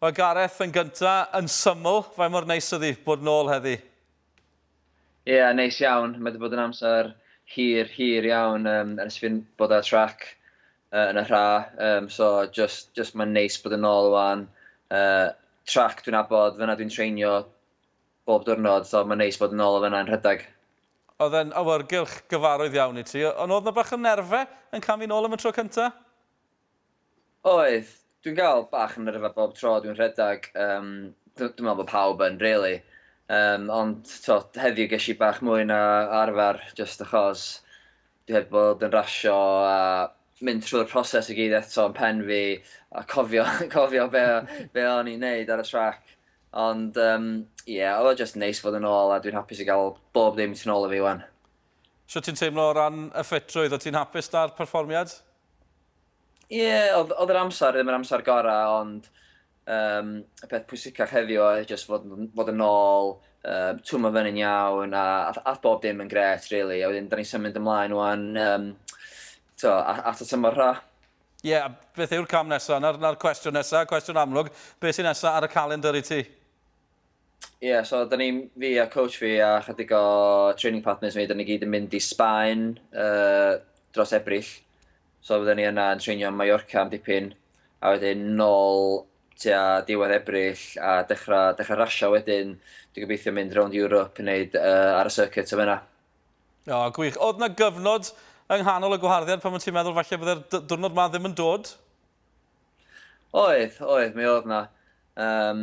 Wel Gareth, yn gynta, yn syml, faint mor neis ydi bod nôl heddi? Ia, neis iawn, mae 'di bod yn amser hir, hir iawn yym ers fi'n bod ar y trac yy yn y rha yym so jyst jyst mae'n neis bod yn ôl ŵan yy trac dwi'n abod, fan'na dwi'n treinio bob diwrnod so mae'n neis bod yn ôl o fan'na yn rhedeg. Oedd e'n awyrgylch gyfarwydd iawn i ti, ond oedd 'na bach o nerfe yn camu nôl am y tro cynta? Oedd, dwi'n gael bach yn nyrfa bob tro dwi'n rhedeg, yym dw- dwi'n meddwl bod pawb yn rili, yym ond tibod heddiw ges i bach mwy na arfer jyst achos dwi heb bod yn rasio a mynd trwy'r proses i gyd eto yn pen fi a cofio cofio be o- be o'n i'n neud ar y trac ond yym ie oedd o jyst neis fod yn ôl a dwi'n hapus i gael bob dim tu nôl i fi ŵan. Shwt ti'n teimlo o ran y ffitrwydd? O't ti'n hapus 'da'r perfformiad? Ie, oedd oedd yr amser ddim yr amser gora, ond yym y peth pwysicach heddiw oedd jyst fod yn fod yn ôl, yym twmlo fyny'n iawn a a ath bob dim yn grêt rili a wedyn 'dan ni'n symud ymlaen ŵan yym t'o' a- at y tymor rha. Ie, a beth yw'r cam nesa? 'Na'r 'na'r cwestiwn nesa, cwestiwn amlwg. Be' sy nesa ar y calendr i ti? Ie, yeah, so da ni, fi a coach fi a chydig o training partners fi, da ni gyd yn mynd i Sbaen uh, dros Ebrill. So fydden ni yna yn treinio Mallorca am dipyn, a wedyn nôl tua diwedd Ebrill a dechrau, dechrau rasio wedyn. Dwi'n gobeithio mynd rownd Europe yn neud uh, ar y circuit o fyna. O, oh, gwych. Oedd na gyfnod yng nghanol y gwaharddiad pan ti'n meddwl falle byddai'r diwrnod ma ddim yn dod? Oedd, oedd, mi oedd na. Um,